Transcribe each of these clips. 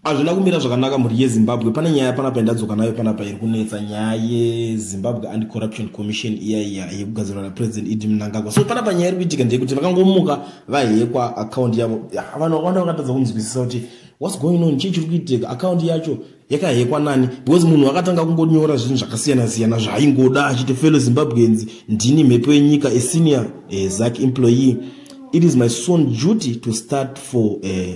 hazvina kumira zvakanaka mhuri yezimbabwe pane nyaya panapa yandadzoka nayo panapa iri kunetsa nyaya yezimbabwe and corruption commission iya iya yekugadzirwa napresident idi mnangagwa so panapa nyaya iri kuitika ndeyekuti vakangomuka vahekwa akaundi yavo vanhu vakawanda vakatadza kunzwisisa kuti whats going on chii chiri kuitika akaundi yacho yakahekwa nani because munhu akatanga kungonyora zvinhu zvakasiyana siyana zvaaingoda achiti fellow zimbabweans ndini mhepo yenyika esenior eh, zac employee it is my son duty to start for uh,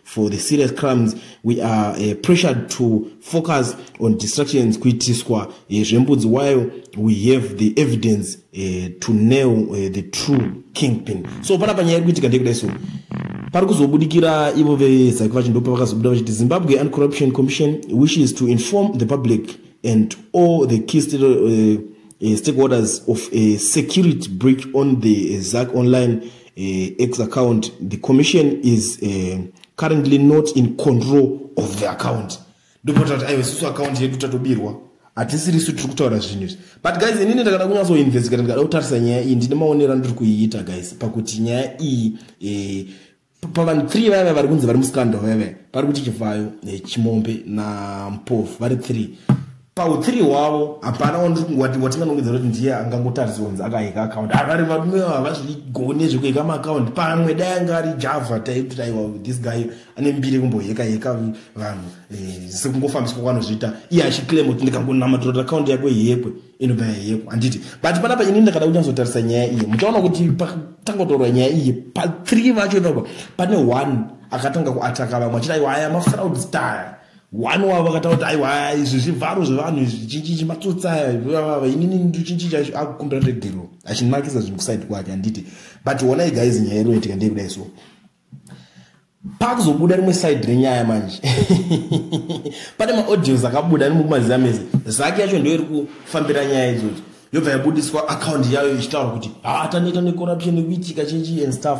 for the serious crimes we are uh, pressured to focus on distractions kuitiswa uh, zvembudzi while we have the evidence uh, to nail uh, the true kingpin so pana panyaya iri kuitika ndeyekudai so pari kuzobudikira ivo vezaki vacho ndopa vakazobuda vachiti zimbabwe and corruption commission wishes to inform the public and all the key state, uh, uh, stakeholders of a security breach on the uh, zac online uh, ex account the commission is uh, currently not in control of the account ndopota kuti aiwa isusu account yedu tatobirwa hatisiri isu tiri kutaura zvinhu izvi but guys inini ndakada kunyatsoinvestigata ndikada kutarisa nyaya iyi ndine maonero andiri kuiita guys pakuti nyaya iyi eh, pavanhu three vaiva vari kunzi vari muscandal vaiva pari kuti chivhayo eh, chimombe nampofu vari three pauthree hwavo hapana wandiri kungwati watinganongedza kuti ndiye angangotariswa kunzi akaheka akaunti avari varume havazvigone zvekuheka maakaunti pamwe dai anga ari java taiti aiwa this guy ane mbiri kumboheka heka vanhu eh, sekungofambiswa kwanozviita iye achiclaim kuti ndikangonamatirota akaunti yako yekwe inobva yayekwa handiti but panapa ini ndakada kunyatsotarisa nyaya iye muchaona kuti patangotorwa nyaya iye pathree vacho ipapa pane one akatanga kuataka vamwe achiti aiwa aya mafraud style one wavo vakataura kuti aiwa izvi zvivharo zvevanhu izvi chinchichi matsotsi aya inini ndichinchichi akukumbira regero achinakisa zvinhu kusaidi kwake handiti but honai guys nyaya inoitika ndei kudai so pakuzobuda rimwe side renyaya manje pane maaudios akabuda animo kumaziva mese zaki yacho ndoiri kufambira nyaya idzodzo yobva yabudiswa akaunti yayo ichitaura kuti haa ah, taneta necorruption nekuitika chinchi and stuff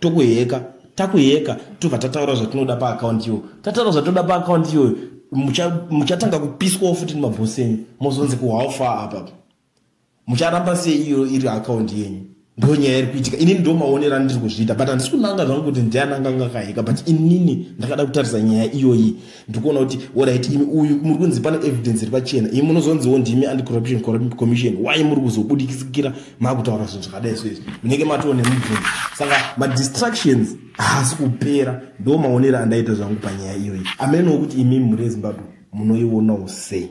tokuheka takuheka tobva tataura zvatinoda paakaunti iyoyo tataura zvatinoda paakaunti iyoyo muchatanga kupiswawo futi nemabhosi enyu mozonzi kuhowfa apapa mucharamba sei iyo iri akaunti yenyu ndo nyaya iri kuitika inini ndo maonero andiri kuzviita but handisi kunanga zvangu kuti ndiananga ngakaheka but inini ndakada kutarisa nyaya iyoyi ndikuona kuti orit imi uyu muri kunzi pane evidence iri pachena imi munozonziwo ndimi anti corruption commission why muri kuzobudikisikira makutaura zvinhu zvakadai so izvi munenge matiwo nemubvunzi saka madistractions haasi kupera ndo maonero andaita zvangu panyaya iyoyi amenowo kuti imimi muri ezimbabwe munoionawo sei